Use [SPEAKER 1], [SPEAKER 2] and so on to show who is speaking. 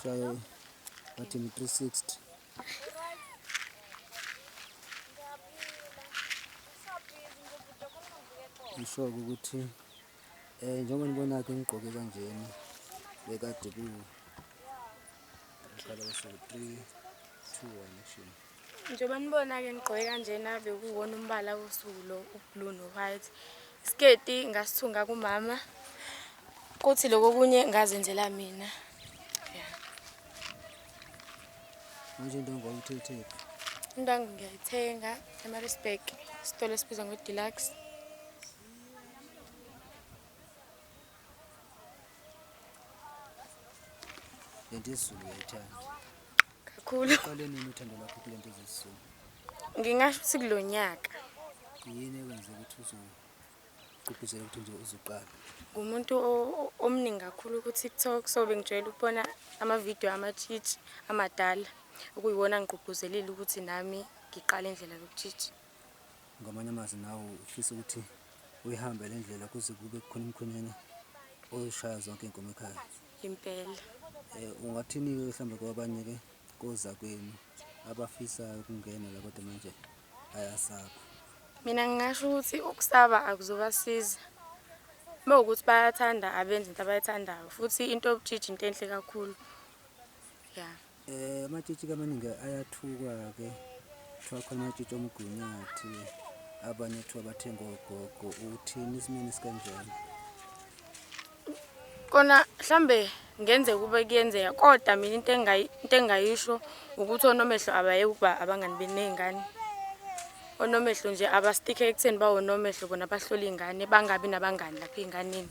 [SPEAKER 1] Try what in 360. Ngisho-ke ukuthi um eh, njengoba nibona-ke ngigqoke kanjena bekade ku ngiqala usuku three two one action Njengoba nibona-ke
[SPEAKER 2] ngigqoke kanjena bekuwona umbala wosuku lo ublue no-white isiketi ngasithunga kumama kuthi loko kunye ngazenzela mina
[SPEAKER 1] manje into ngawuthethephi into
[SPEAKER 2] angingiyayithenga emarisburg isitolo esibizwa ngo-deluxe
[SPEAKER 1] lento yesizulu uyayithanda kakhulu
[SPEAKER 2] uqale nini uthando
[SPEAKER 1] lwakho kule nto zesizulu ngingasho
[SPEAKER 2] ukuthi kulo nyaka yini
[SPEAKER 1] ekwenze ukuthi uzogqugquzela ukuthi nje uzuqala ngumuntu o- o-
[SPEAKER 2] omningi kakhulu ku-tiktok so bengijwayele ukubona amavidiyo amatshitshi amadala okuyiwona ngigqugquzelile ukuthi nami ngiqale indlela yokutshitshi ngamanye
[SPEAKER 1] amazwi nawe ufisa ukuthi uyihambe le ndlela kuze kube khona umkhwenyana oshaya zonke iy'nkomo ekhaya impela. Ungathini-ke mhlawumbe kwabanye-ke kozakwenu abafisayo ukungena la kodwa manje bayasaba? Mina
[SPEAKER 2] ngingasho ukuthi ukusaba akuzobasiza. Uma ukuthi bayathanda abenze into abayithandayo futhi into yobujiji into enhle kakhulu. Ya. Eh amatshitshi
[SPEAKER 1] kamaningi ayathukwa ke kuthiwa khona amatshitshi omgunyathi abanye kuthiwa bathenga ogogo uthini isimeni sikanjani
[SPEAKER 2] kona mhlambe ngenze kube kuyenzeka kodwa mina into engayi into engayisho ukuthi onomehlo abayeke ukuba abangani benezingane onomehlo nje abastike ekutheni bawonomehlo bona bahlola izingane bangabi nabangani lapha ezinganeni